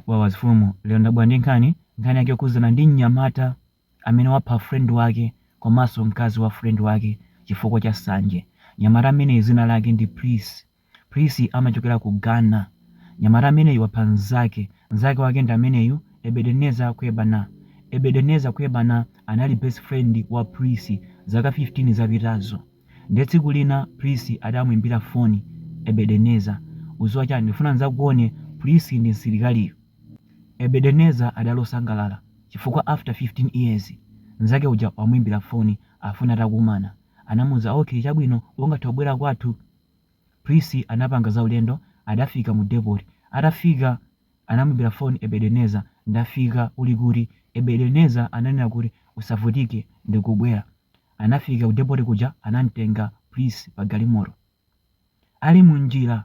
Wawa a mfumu lero ndabwera ndi nkhani, nkhani yake yokhudzana ndi mnyamata amene wapha friend wake komanso mkazi wa friend wake chifukwa cha sanje. Mnyamata ameneyi dzina lake ndi Prissy. Prissy amachokera ku Ghana. Mnyamata ameneyu wapha mnzake. Mnzake wake ndi ameneyu Ebedenezer Kwebana. Ebedenezer Kwebana anali best friend wa Prissy zaka 15 zapitazo. Ndiye tsiku lina Prisi adamuimbira foni Ebedeneza. Uziwa chani? Ndikufuna ndidzakuone Prisi ndi msilikaliyo. Ebedeneza adali osangalala chifukwa after 15 years mzake uja wamuimbira foni afuna takumana. Anamuuza okay chabwino ungathe kubwera kwathu? Prisi anapanga za ulendo adafika mu depot. Atafika anamuimbira foni Ebedeneza, ndafika uli kuti? Ebedeneza ananena kuti usavutike ndikubwera. Anafika ku depoti kuja anamtenga Pris pa galimoto. Ali mu njira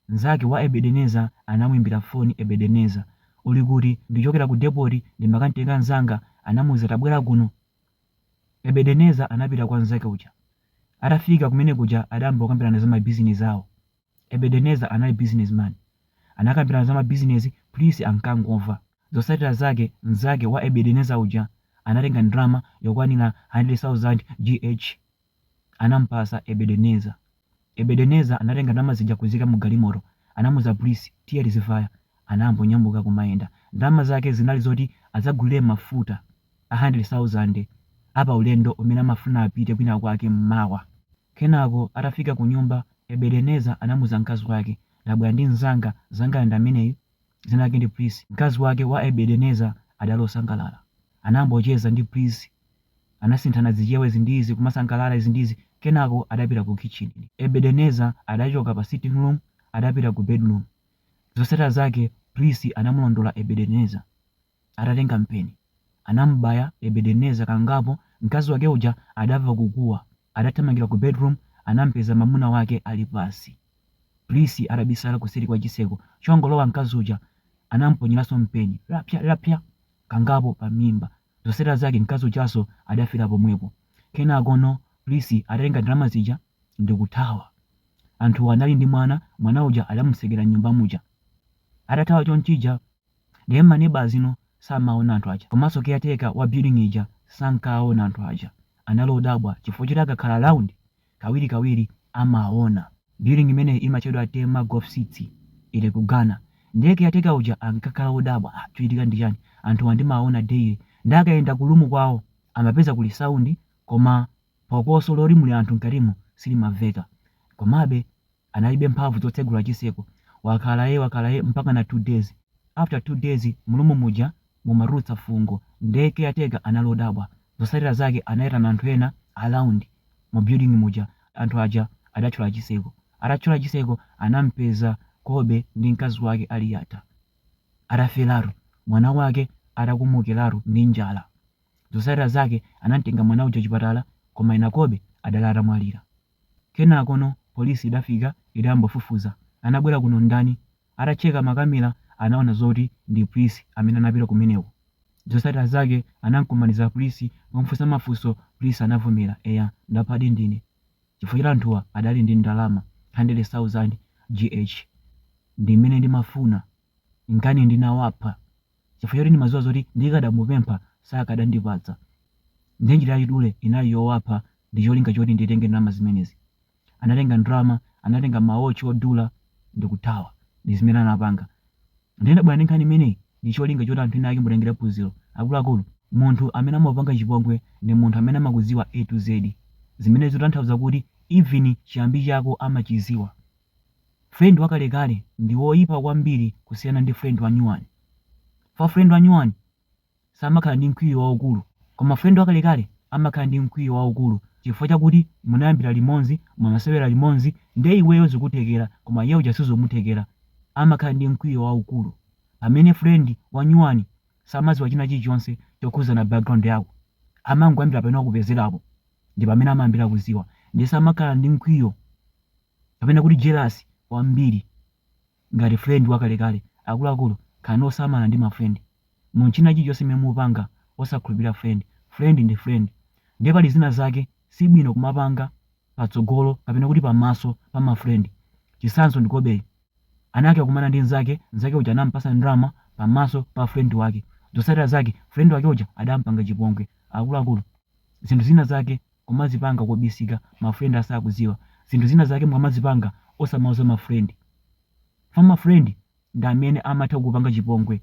mzake wa Ebedeneza anamuimbira foni Ebedeneza, uli kuti? Ndichokera ku depoti ndimakamtenga mzanga anamuuza tabwera kuno. Ebedeneza anapita kwa mzake uja. Atafika kumene kuja adayamba kukambirana za ma bizinesi awo. Ebedenezer anali businessman. Anakambirana za ma business Pris ankangomva. Zotsatira zake mzake wa Ebedenezer uja anatenga ndalama yokwanira 100,000 Gh anamupatsa Ebedenezer. Ebedenezer anatenga ndalama zija kuziika mu galimoto. Anamuuza Pris tiye tizivaya. Anayamba kunyamuka kumayenda. Ndalama zake zinali zoti adzagulire mafuta a 100,000 a pa ulendo umene amafuna apite kwinakwake mmawa. Kenako atafika kunyumba, Ebedeneza anamuuza mkazi wake, Ndabwera ndi mnzanga, mnzangayu ndi ameneyu, dzina lake ndi Prisi. Mkazi wake wa Ebedeneza adali osangalala. Anayamba kucheza ndi Prisi. Anasinthana zichewa izi ndi izi, kumasangalala izi ndi izi. Kenako adapita ku khitchini. Ebedeneza adachoka pa sitting room adapita ku bedroom. Zotsatira zake Prisi anamulondola Ebedeneza. atatenga mpeni. Anamubaya Ebedeneza kangapo mkazi wake uja adamva kukuwa adathamangira ku bedroom anampeza mamuna wake ali pansi. Pris atabisala kuseri kwa chitseko chongolowa mkazi uja anamuponyeraso mpeni rapya rapya kangapo pa mimba. Zotsatira zake mkazi ujaso adafira pomwepo. Kenakono Pris adatenga ndalama zija ndikuthawa. Anthuwa anali ndi mwana, mwana uja adamutsekera mnyumba muja. Atathawa chonchija. Ndiye ma neighbours ena samawaona anthu aja komanso caretaker wa building ija sankawaona anthu aja. Anali odabwa chifukwa choti akakhala around kawirikawiri amawaona. Building imeneyi imatchedwa Tema Golf City, ili ku Ghana. Ndiye caretaker uja ankakhala wodabwa, ah chikuchitika ndi chani? Anthuwa ndimawaona daily. Ndiye akayenda ku room kwawo amapeza kuli sound koma phokoso loti muli anthu mkatimo silimamveka. Komabe analibe mphamvu dzotsegula chiseko wakhala ee wakhala ee mpakana 2 days after 2 days mu room muja mumatulutsa fungo nde caretaker anali odabwa zotsatira zake anaitana anthu ena around mu building muja anthu aja adatchola chiseko atatchola chiseko anampeza Kobe ndi mkazi wake ali yata atafelaru mwana wake atakomokelaru ndi njala zotsatira zake anamtenga mwana uja chipatala koma ena Kobe anali atamwalira Kenakono police idafika idayamba kufufuza. Anabwera kuno ndani? Atacheka makamera anaona zoti ndi Prince amene anapita kumeneko. Zotsatira zake anankumaniza Prince ndikumufunsa mafunso Prince anavomera eya ndaphadi ndine chifukwa choti anthuwa adali ndi ndalama 100,000 GH ndimene ndimafuna nkana ndinawapha. chifukwa choti ndimadziwa zoti ndikadamupempha sakadandipatsa ndiye njira yachidule inali yowapha ndi cholinga choti nditenge ndalama zimenezi. Anatenga ndalama, anatenga mawatch odula ndikuthawa. Ndi zimene anapanga. Ndiye ndabwera ndi nkhani imeneyi ndi cholinga choti anthu ena ake mutengere phunziro. Akuluakulu, munthu amene amakupanga chipongwe ndi munthu amene amakudziwa A to Z. Zimene zikutanthauza kuti even chiyambi chako amachidziwa. Friend wakalekale ndi woipa kwambiri kusiyana ndi friend wanyuwani. Chifukwa friend wanyuwani samakhala ndi mkwiyo waukulu koma friend wakalekale amakhala ndi mkwiyo waukulu chifukwa chakuti munayambira limodzi, mumasewera limodzi ndiye iweyo zikuthekera koma iye uja sizimuthekera, amakhala ndi mkwiyo waukulu. Pamene friend wanyuwani samadziwa china chilichonse chokhudzana background yako, amangoyambira pamene wakupezerapo ndipamene amayambira kudziwa ndiye samakhala ndi mkwiyo. kapena kuti jealous kwambiri ngati friend wakalekale akuluakulu khalani osamala ndi ma friend mu china chilichonse chimene mupanga osakhulupirira friend friend ndi friend ndiye pali zina zake si bwino kumapanga patsogolo kapena kuti pamaso pa ma friend chitsanzo ndi Kobe anakakumana ndi mzake mzake uja anampasa ndalama pamaso pa friend wake zotsatira zake friend wake uja adampanga chipongwe akuluakulu zinthu zina zake kumazipanga kobisika ma friend asakudziwa zinthu zina zake mukamazipanga osamauza ma friend chifukwa ma friend ndi amene amatha kukupanga chipongwe.